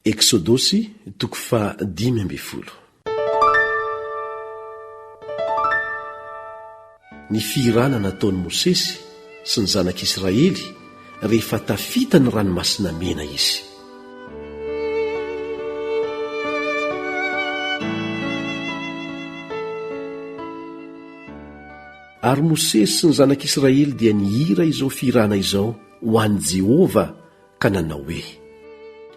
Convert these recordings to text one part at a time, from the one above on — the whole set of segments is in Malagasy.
Eksodosy toko faha dimy ambin'ny folo. Ny fihirana nataon'i Mosesy sy ny zanak'Israely rehefa tafita ny Ranomasina Mena izy. Ary Mosesy sy ny zanak'Israely dia nihira izao fihirana izao ho an'i Jehovah ka nanao hoe,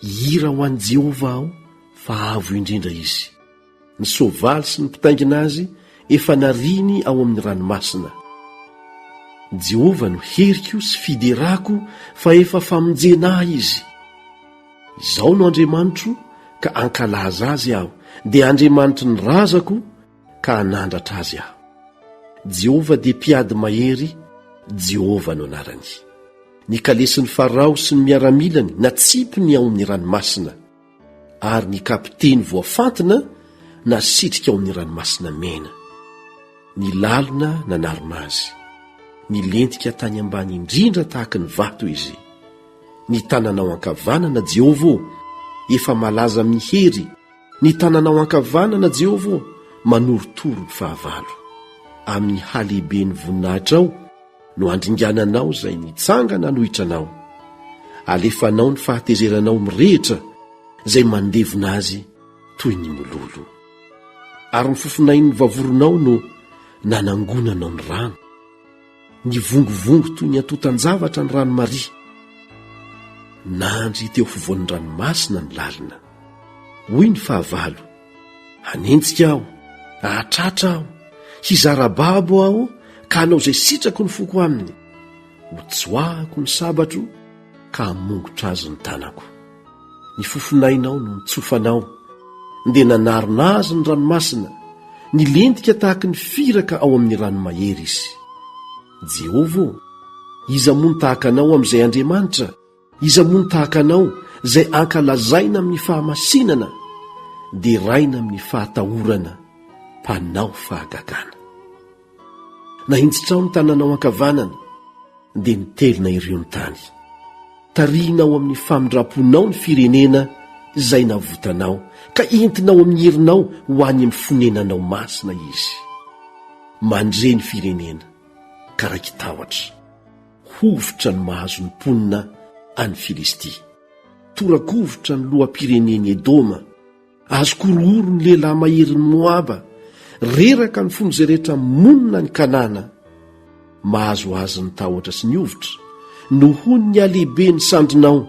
Hihira ho an'i Jehovah aho, fa avo indrindra izy. Ny soavaly sy ny mpitaingina azy efa nariany ao amin'ny ranomasina. Jehovah no heriko sy fiderako, fa efa famonjena ahy izy. Izao no Andriamanitro, ka hankalaza azy aho, dia Andriamanitry ny razako, ka hanandratra azy aho. Jehovah dia mpiady mahery, Jehovah no anarany. Ny kalesin'i Farao sy ny miaramilany natsipiny ao amin'ny ranomasina, ary ny kapiteny voafantina nasitrika ao amin'ny Ranomasina Mena. Ny lalina nanarona azy. Nilentika tany ambany indrindra tahaka ny vato izy. Ny tananao ankavanana, Jehovah ô, efa malaza amin'ny hery, Ny tananao ankavanana, Jehovah ô, manorotoro ny fahavalo. Amin'ny halehiben'ny voninahitrao no andringananao izay mitsangana hanohitra anao. Alefanao ny fahatezeranao mirehitra izay mandevona azy toy ny mololo. Ary ny fofonain'ny vavoronao no nanangonanao ny rano. Nivongovongo toy ny antontan-javatra ny rano Maria. Nandry teo afovoan'ny ranomasina ny lalina. Hoy ny fahavalo, Hanenjika aho, hahatratra aho, hizara babo aho ka hanao izay sitrako ny foko aminy. Hotsoahako ny sabatro ka hamongotra azy ny tanako. Ny fofonainao no nitsofanao, dia nanarona azy ny ranomasina, nilentika tahaka ny firaka ao amin'ny rano mahery izy. Jehovah ô, iza moa no tahaka anao amin'izay Andriamanitra? Iza moa no tahaka anao, izay ankalazaina amin'ny fahamasinana, deraina amin'ny fahatahorana, mpanao fahagagana? Nahintsitrao ny tananao ankavanana, dia nitelina ireo ny tany. Tarihinao amin'ny famindram-ponao ny firenena izay navotanao, ka entinao amin'ny herinao ho any amin'ny fonenanao masina izy. Mandre ny firenena, ka raiki-tahotra. Hovitra ny mahazo ny mponina any Filistia. Tora-kovitra ny loham-pirenen'i Edoma. Azo korohoro ny lehilahy maherin'i Moaba, reraka ny fon'izay rehetra monina any Kanana. Mahazo azy ny tahotra sy ny hovitra, nohon'ny halehibe ny sandrinao,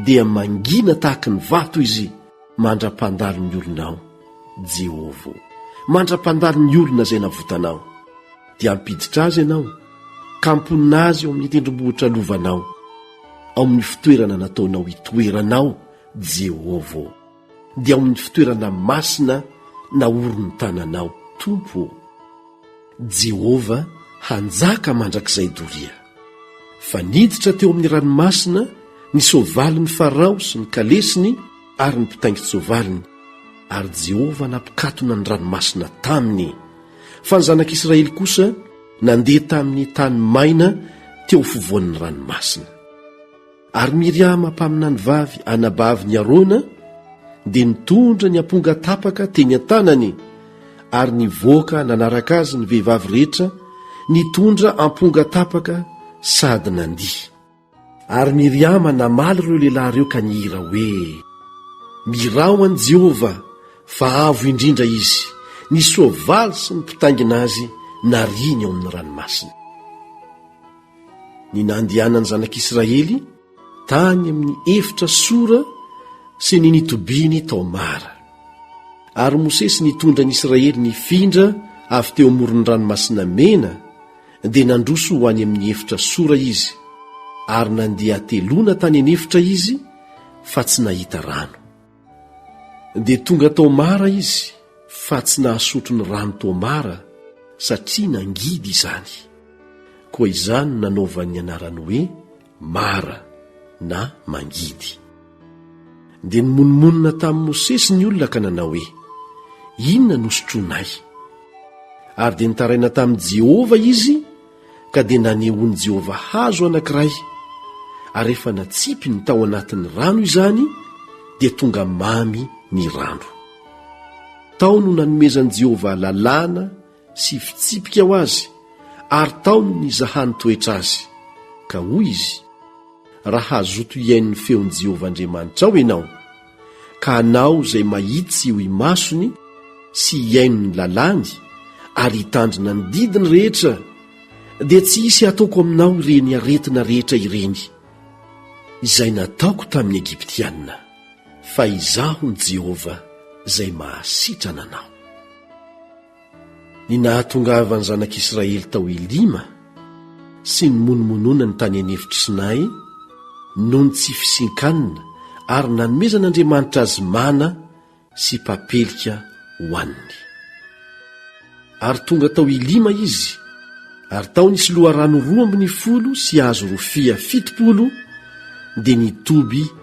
dia mangina tahaky ny vato izy mandra-pandalo ny olonao, Jehovah ô, mandra-pandalo ny olona izay navotanao. Dia hampiditra azy ianao, ka hamponina azy ao amin'ny tendrombohitra lovanao, ao amin'ny fitoerana nataonao hitoeranao, Jehovah ô. dia ao amin'ny fitoerana masina naorin'ny tananao tompo ô jehovah hanjaka mandrakizay doria fa niditra teo amin'ny ranomasina ny soavalin'ny farao sy ny kalesiny ary ny mpitaingin-tsoavaliny ary jehovah nampikatona ny ranomasina taminy fa ny zanak'israely kosa nandeha tamin'ny tany maina teo fovoan'ny ranomasina Ary Miriama mpaminany vavy anabavin' i Arona dia nitondra ny amponga tapaka teny an-tanany, ary nivoaka nanaraka azy ny vehivavy rehetra nitondra amponga tapaka sady nandihy. Ary Miriama namaly ireo lehilahy ireo ka nihira hoe, Miraho an'i Jehovah, fa avo indrindra izy, ny soavaly sy ny mpitaingina azy nariany ao amin'ny ranomasina. ny nandianany zanak'israely tany amin'ny efitra sora sy ny nitobiany tao mara ary mosesy nitondra ny israely ny findra avy teo amoron'ny ranomasina mena dia nandroso ho any amin'ny efitra sora izy ary nandeha telona tany an'efitra izy fa tsy nahita rano Dia tonga tao Mara izy fa tsy nahasotro ny rano tao Mara satria nangidy izany. Koa izany no nanaovany ny anarany hoe Mara na Mangidy. Dia nimonomonona tamin'i Mosesy ny olona ka nanao hoe, Inona no sotroinay? Ary dia nitaraina tamin'i Jehovah izy ka dia nanehoan'i Jehovah hazo anankiray, ary rehefa natsipy ny tao anatin'ny rano izany, dia tonga mamy ny rano. Tao no nanomezan'i Jehovah lalàna sy fitsipika ho azy, ary tao no nizahany toetra azy. Ka hoy izy, Raha hazoto hihaino ny feon'i Jehovah Andriamanitrao ianao, ka hanao izay mahitsy eo imasony sy hihaino ny lalàny ary hitandrina ny didiny rehetra, dia tsy hisy hataoko aminao ireny aretina rehetra ireny, izay nataoko tamin'ny Egyptiana, fa Izaho ny Jehovah izay mahasitrana anao. Ny nahatongavan'ny zanak'Israely tao Elima sy ny monomononany tany an'efitry Sinay noho ny tsy fisian-kanina ary nanomezan'Andriamanitra azy mana sy papelika hohaniny. Ary tonga tao Elima izy, ary tao nisy loharano roa ambin'ny folo sy hazo rofia fitopolo dia nitoby